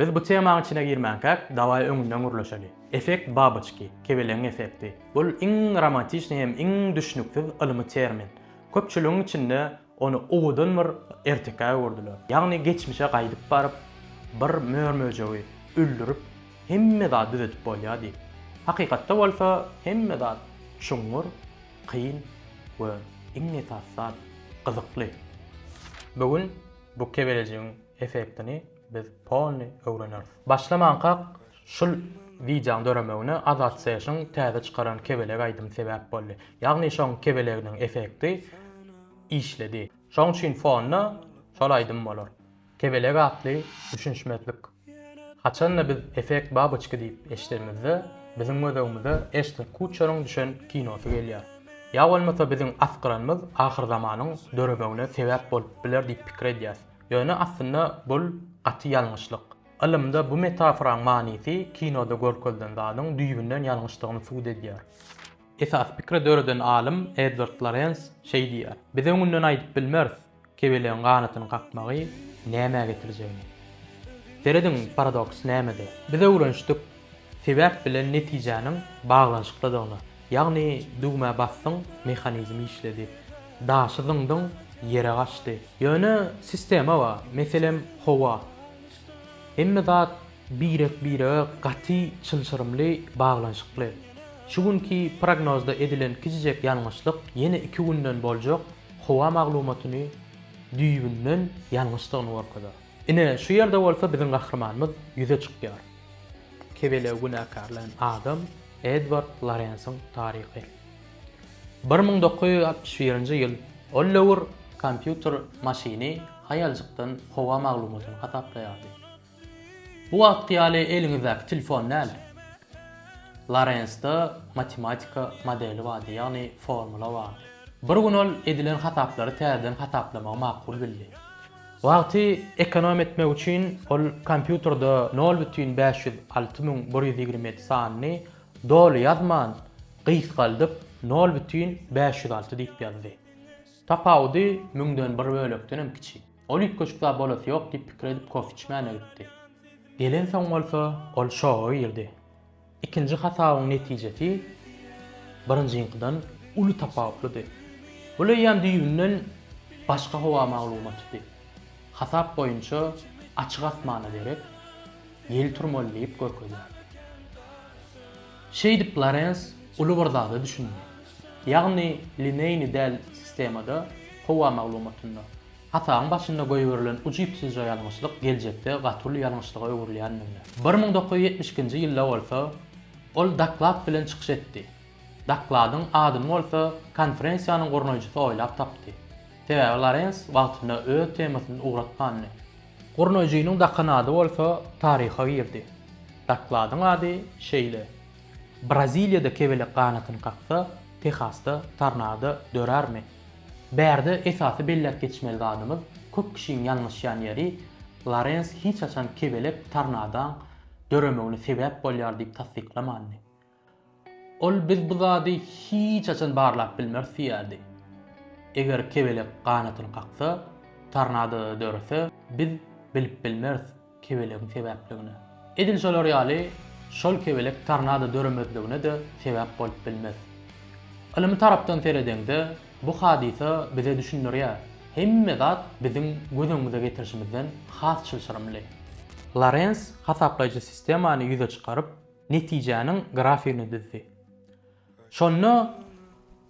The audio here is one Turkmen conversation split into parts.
Biz bu temanyň içine girmänkäk, dawaý öňünden gürleşeli. Effekt baboçki, kebelegiň effekti. Bul iň romantişni hem iň düşnüksiz ylmy termin. Köpçüligiň içinde ony owadan bir ertekä öwürdiler. Ýagny geçmişe gaýdyp baryp, bir mör-möjegi öldürip, hemme zady düzedip bolýar diýip. Hakykatda bolsa hemme zat çuňňur, kyn we iň esasy zat, gyzykly. Bu gün bu kebelejigiň Effektini biz polny öwreneris. Başlamankak şul wideoň döremegine Azat Session täze çykaran kebelek aýdym sebäp boldy. Ýagny şoň kebeleginiň effekti işledi. Şoň üçin fonda şol aýdym bolar. Kebelek atly düşünişmezlik. Haçanda biz effekt baboçki diýip eşidemizde biziň gözegimize Eşton Kuçeriň düşen kinosy gelýär. Ýa bolmasa biziň asgyranymyz ahyrzamanyň döremegine sebäp bolup biler diýip pikir edýäs. Ýöne aslynda bul gaty ýalňyşlyk. Ylymda bu metaforaň manysy kinoda görkezilen zadyň düýbünden ýalňyşdygyny subut edýär. Esasy pikri döreden alym Edward Lorens şeý diýýär, Biz öňünden aýdyp bilmeris, kebelegiň ganatyny kakmagy nämä getirjegini. Serediň, paradoks nämede? Biz öwrenişdik. Sebäp bilen netijäniň baglanyşyklydygyna, ýagny düwmä basdyň, mehanizm işledi, daşy zyňdyň, ýere gaçdy. Ýöne sistema bar, meselem, howa. Hemme zat birek-birege gaty çylşyrymly baglanyşykly. Şu günki prognozda edilen kiçijek ýalňyşlyk ýene iki günden boljak howa maglumatyny düýbünden ýalňyşdygyny görkezär. Ine, şu ýerde bolsa biziň gahrymanymyz ýüze çykýar. Kebelegi günäkärleýän adam Edward Lorensiň taryhy. Bir müň dokuz ýüz altmyş birinji ýyl ol döwür kompýuter maşyny haýaljykdan howa maglumatyny hasaplaýardy. Bu wagtky ýaly eliňizdäki telefon däl. Lorensde matematika modeli bardy, ýagny formula bardy. Bir gün ol edilen hasaplary täzeden hasaplamagy makul bildi. Wagty ekonom etmek üçin ol kompýuterde nol bütin bäş ýüz alty müň bir ýüz ýigrimi ýedi sanyny doly ýazman, gysgaldyp, nol bütin bäş ýüz alty diýip ýazdy. Tapawudy müňden bir bölekden hem kiçi. Ol üýtgeşik zat bolasy ýok diýip pikir edip kofe içmäne gitdi. Gelensoň bolsa ol şoga girdi. Ikinji hasabyň netijesi birinjiňkydan uly tapawutlydy. Bul eýýäm düýbünden başga howa maglumatydy. Hasap boýunça açyk asmana derek ýel turmaly diýip görkezýärdi. Şeýdip Lorens uly bir zada düşündi. Ýagny lineýny däl sistemada howa maglumatynda Hasabyň başynda goýberilen ujypsyzja ýalňyşlyk geljekde gaty uly ýalňyşlyga öwrülýändigini, bir müň dokuz ýüz ýetmiş ikinji ýylda bolsa ol doklad bilen çykyş etdi. Dokladyň adyny bolsa konferensiýanyň gurnaýjysy oýlap tapdy. Sebäbi Lorens wagtynda öz temasyny ugratmandy. Gurnaýjynyň dakan ady bolsa taryha girdi. Dokladyň ady şeýle. Braziliýada kebelek ganatyny kaksa, Tehasda tornado dörärmi? Bärde esasy belläp geçmeli zadymyz, köp kişiň ýalňyşýan ýeri, Lorens hiç haçan kebelek tornadoň döremegine sebäp bolýar diýip tassyklamandy. Ol biz bu zady hiç haçan barlap bilmeris diýýärdi. Eger kebelek ganatyny kaksa, tornado dörese, biz bilip bilmeris. kebelegiň sebäpligine. Edil şolar ýaly, şol kebelek tornado döremezligine-de sebäp bolup bilmez. Ylmy tarapdan seredeňde, bu hadysa bize düşündirýär, hemme zat biziň göz öňümize getirişimizden has çylşyrymly. Lorens hasaplaýjy sistemany ýüze çykaryp, netijäniň grafigini düzdi. Şonda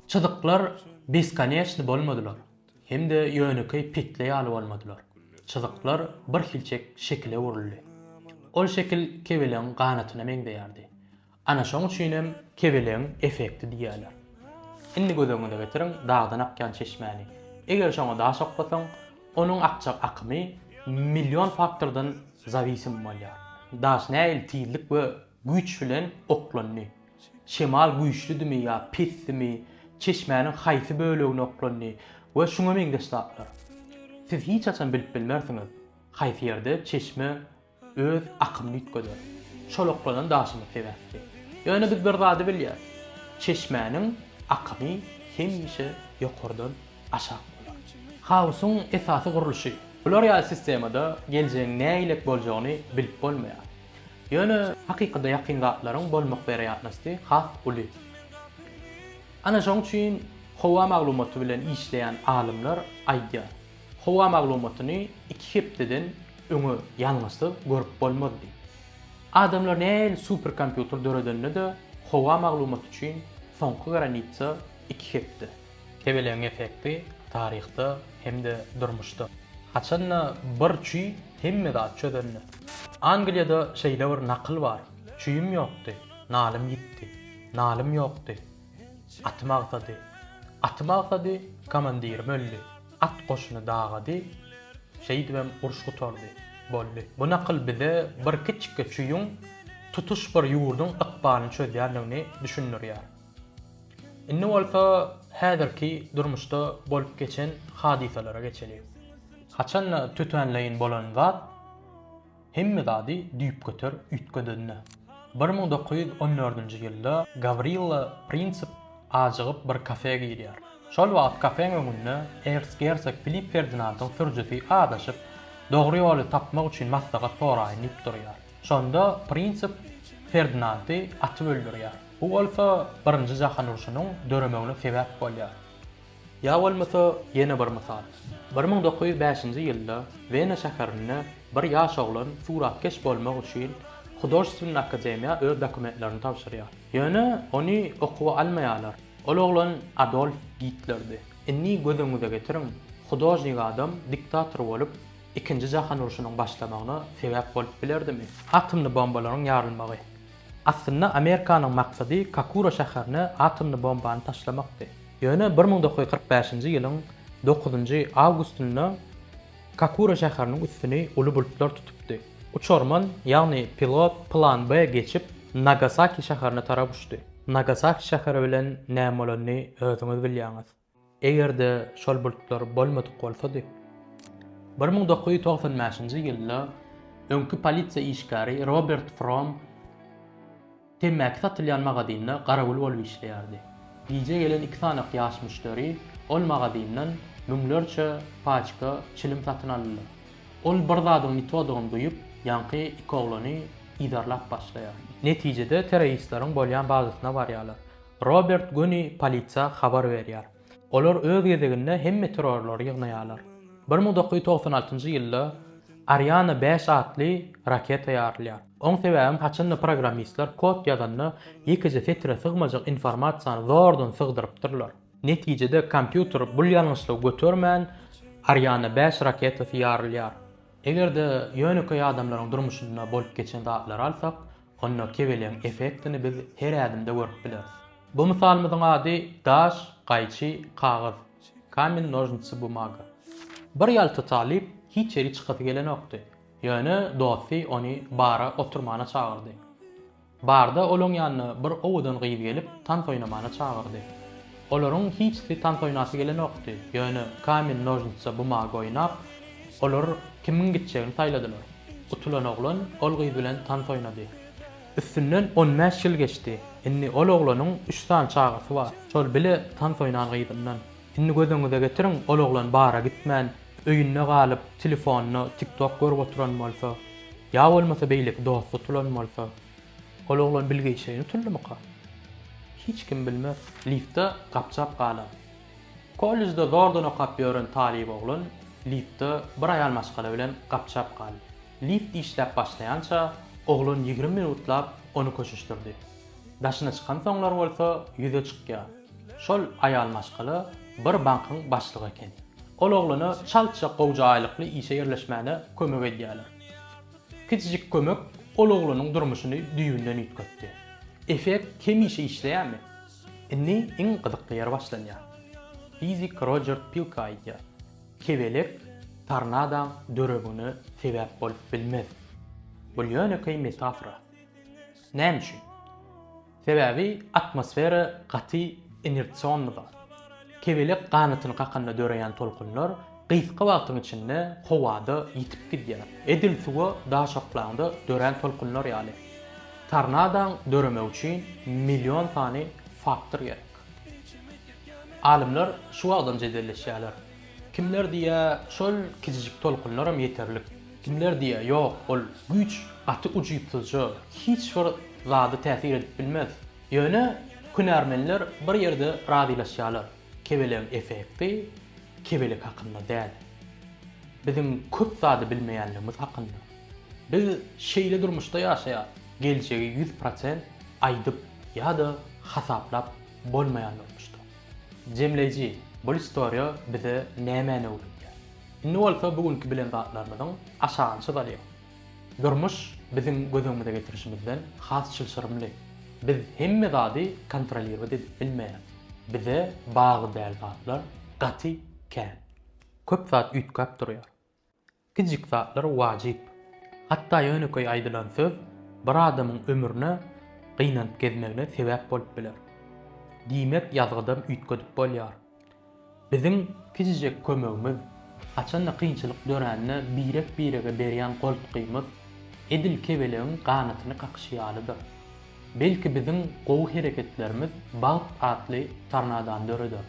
çyzyklar beskoneçni bolmadylar. Hem-de ýönekeý petli ýaly bolmadylar. Çyzyklar birhilçek şekil öwrüldi. Ol şekil kebelegiň ganatyna meňzeýärdi. Ana şoň üçin hem kebelegiň effekti diýýärler. Indi göz öňüňize getiriň dagdan akýan çeşmäni. Eger şoňa daş oklasaň, onuň akjak akymy million faktordan zawisim bolýar. Daş nähili tizlik we güýç bilen oklandy? şemal güýçlüdimi ýa pesdimi, çeşmäniň haýsy bölegine oklandy we şuňa meňzeş zatlar. Siz hiç haçan bilip bilmersiňiz, haýsy ýerde çeşme öz akymyny üýtgeder. Şol oklanan daşymyz sebäpli. Ýöne biz bir zady bilýäris, çeşmäniň akymy hemişe ýokardan aşak bolar. Haosyň esasy gurluşy. Bular ýaly sistemada geljegiň nähilek boljagyny bilip bolmaýar. Ýöne hakykada ýakyn zatlaryň bolmak werýatnosty has uly. Ana şoň üçin howa maglumaty bilen işleýän alymlar aýdýar, howa maglumatyny iki hepdeden öňe ýalňyşsyz görüp bolmaz diýip. Adamlar nähili superkompýuter döredende-de howa maglumaty üçin soňky granitsa iki hepde. Kebelegiň effekti taryhda hem-de durmuşda. Haçan-da bir çüý hemme zat çözende. Angliýada şeýle bir nakyl bar, Çüýüm ýokdy, nalym ýitdi, nalym ýokdy, atym agsady, atym agsady, komandirim öldi, at goşuny dagady, şeýdibem uruş gutardy, boldy. Bu nakyl bize bir kiçikge çüýüň tutuş bir ýurduň ykbalyny çözýändigini düşündirýär. Indi bolsa häzirki durmuşda bolup geçen hadysalara geçeli. Haçan-da tötänleýin bolan zat hemme zady düýpgöter üýtgedendi. Bir müň dokuz ýüz on dördünji ýylda Gawrilla Prinsip ajygyp bir kafe girýär. Şol wagt kafeň öňünde ercgersog Filipp Ferdinandyň sürüjisi azaşyp, dogry ýoly tapmak üçin maslahat soraýyn diýip durýar. Şonda Prinsip Ferdinandy atyp öldürýär. Bu bolsa Birinji jahan urşunyň döremegine sebäp bolýar. Ýa bolmasa ýene bir mysal. Bir müň dokuz ýüz bäşinji ýylda Wena şäherinde bir ýaş oglan suratkeş bolmak üçin Hudoždstwenny akademiýa öz dokumentlerini tabşyrýar. Ýöne ony okuwa almaýarlar. Ol oglan Adolf Gitlerdi. Indi göz öňüňize getiriň, hudožnik adam diktator bolup, Ikinji jahan urşunyň başlamagyna sebäp bolup bilerdimi? Atomly bombalaryň ýarylmagy. Aslynda Amerikanyň maksady Kakura şäherine atomly bombany taşlamakdy. Ýöne bir müň dokuz ýüz kyrk bäşinji ýylyň dokuzynjy awgustynda Kakura şäheriniň üstüni uly bulutlar tutupdy. Uçarman, ýagny pilot plan B geçip, Nagasaki şäherine tarap uçdy. Nagasaki şäheri bilen näme bolanyny özüňiz bilýäňiz. Eger-de şol bulutlar bolmadyk bolsady, bir müň dokuz ýüz togsan bäşinji ýylda öňki polisiýa işgäri Robert Fromm temmäki satylýan magazynda garawul bolup işleýärdi. Gije gelen iki sanaky ýaş müşderi ol magazyndan müňlerçe paçka çilim satyn aldylar. Ol bir zadyň ýitodygyny duýup, ýaňky iki oglany yzarlap başlaýar. Netijede terroristleriň bolýan bazasyna barýarlar. Robert göni polisiýa habar berýär. Olar öz gezeginde hem meteorlary ýygnaýarlar. Bir müň dokuz ýüz togsan altynjy ýylda Ariane bäş atly raketa ýarylýar. Oň sebäbem haçanda programmistler kod ýazanda ýekeje setire sygmajak informasiýany zordan sygdyrypdyrlar. Netijede kompýuter bul ýalňyşlygy götermän Ariane bäş raketasy ýarylýar. Eger-de ýönekeý adamlaryň durmuşynda bolup geçen zatlary alsak, Onda kebeleň effektini biz her ädimde görüp bileris. Bu mysalymyzyň ady Daş, gaýçy, kagyz, Kamen, nožnici, bumaga. Bir ýalta talyp hiç ýeri çykasy gelenokdy. Ýöne dosty ony bara oturmana çagyrdy. Barda olaň ýanyna bir owadan gyz gelip tans oýnamana çagyrdy. Olaryň hiçsi tans oýnasy gelenokdy, ýöne kamen-nožnitsa-bumaga oýnap, olar kimiň gitjegini saýladylar. Utulan oglan ol gyz bilen tans oýnady. Üstünden on bäş ýyl geçdi. Indi ol oglanyň üç sany çagasy bar. Şol bile tans oýnan gyzyndan. Indi göz öňüňize getiriň, ol oglan bara gitmän, öýünde galyp, telefonda tik-tok görüp oturan bolsa, ýa bolmasa beýleki dosty tutulan bolsa. Ol oglan Bill Geýçe ýutundymyka? Hiç kim bilmez. Liftde gapjap galan. Kollejde zordan okap ýören talyp oglan liftde bir aýal maşgala bilen gapjap galdy. Lift işläp başlaýança, oglan ýigrimi minutlap ony köşeşdirdi. Daşyna çykansoňlar bolsa ýüze çykýar. Şol aýal maşgala bir bankyň başlygy ekeni. Ol oglana çaltja gowja aýlykly işe ýerleşmäne kömek edýärler. Kiçijik kömek ol oglanyň durmuşyny düýbünden üýtgetdi. Effekt hemişe işleýärmi? Indi iň gyzykly ýeri başlanýar. Fizik Rojer Pilka aýdýar, Kebelek tornadoň döremgine sebäp bolup bilmez. Bu ýönekeý metafora. Näme üçin? Sebäbi atmosfera gaty inersionly zat. Kebelek ganatyny kakanda döreýän tolkunlar gysga wagtyň içinde howada ýitip gidýär, edil suwa daş oklanda dörän tolkunlar ýaly. Tornadoň döremegi üçin million sany faktor gerek. Alymlar şu wagtam jedelleşýärler. Kimler diýýä, şol kijijik tolkunlaram ýeterlik. Kimler diýýä, ýok, ol güýç gaty ujypsyzja, hiç bir zada täsir edip bilmez. Ýöne hünärmenler bir ýerde razylaşýarlar, kebelegiň effekti kebelek hakynda däl. Biziň köp zady bilmeýänligimiz hakynda. Biz şeýle durmuşda ýaşaýarys, geljegi ýüz prosent aýdyp ýa-da hasaplap bolmaýan durmuşda. Jemleýji, bul istoriýa bize nämäni öwredýär? Indi bolsa bu günki bilen zatlarymyzyň aşagyny çyzalyň. Durmuş biziň göz öňümize getirişimizden has çylşyrymly. Biz hemme zady kontrolirowat edip bilmeýäs. Bize bagy däl zatlar gaty kän. Köp zat üýtgäp durýar. Kiçijik zatlar wajyp. Hatda ýönekeý aýdylan söz bir adamyň ömrüne gynanyp gezmegine sebäp bolup biler. Diýmek ýazgydam üýtgedip bolýar. Biziň kiçijek kömegimiz, haçanda kynçylyk dörände birek-birege berýän goltgymyz edil kebelegiň ganatyny kakyşy ýalydyr. Belki biziň gowy hereketlerimiz bagt atly tornadany döreder.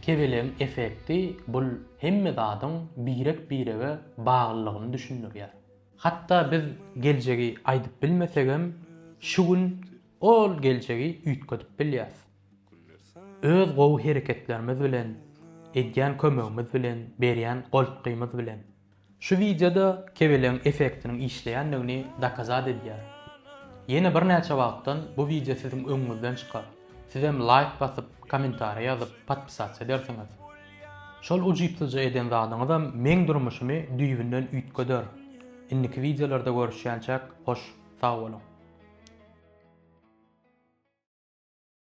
Kebelegiň effekti bul hemme zadyň birek-birege baglylygyny düşündirýär. Hatda biz geljegi aýdyp bilmesegem, şu gün ol geljegi üýtgedip bilýäris. Öz gowy hereketlerimiz bilen, edýän kömegimiz bilen, berýän goltgymyz bilen. Şu wideoda kebelegiň effektiniň işleýändigini dokazat edýär. Ýene birnäçe wagtdan bu wideo siziň öňüňizden çykar. Sizem laýk basyp, kommentariýa ýazyp, podpisasiýa edersiňiz. Şol ujypsyzja eden zadyňyzam meň durmuşymy düýbünden üýtgeder. Indiki wideolarda görüşýänçäk hoş sag boluň.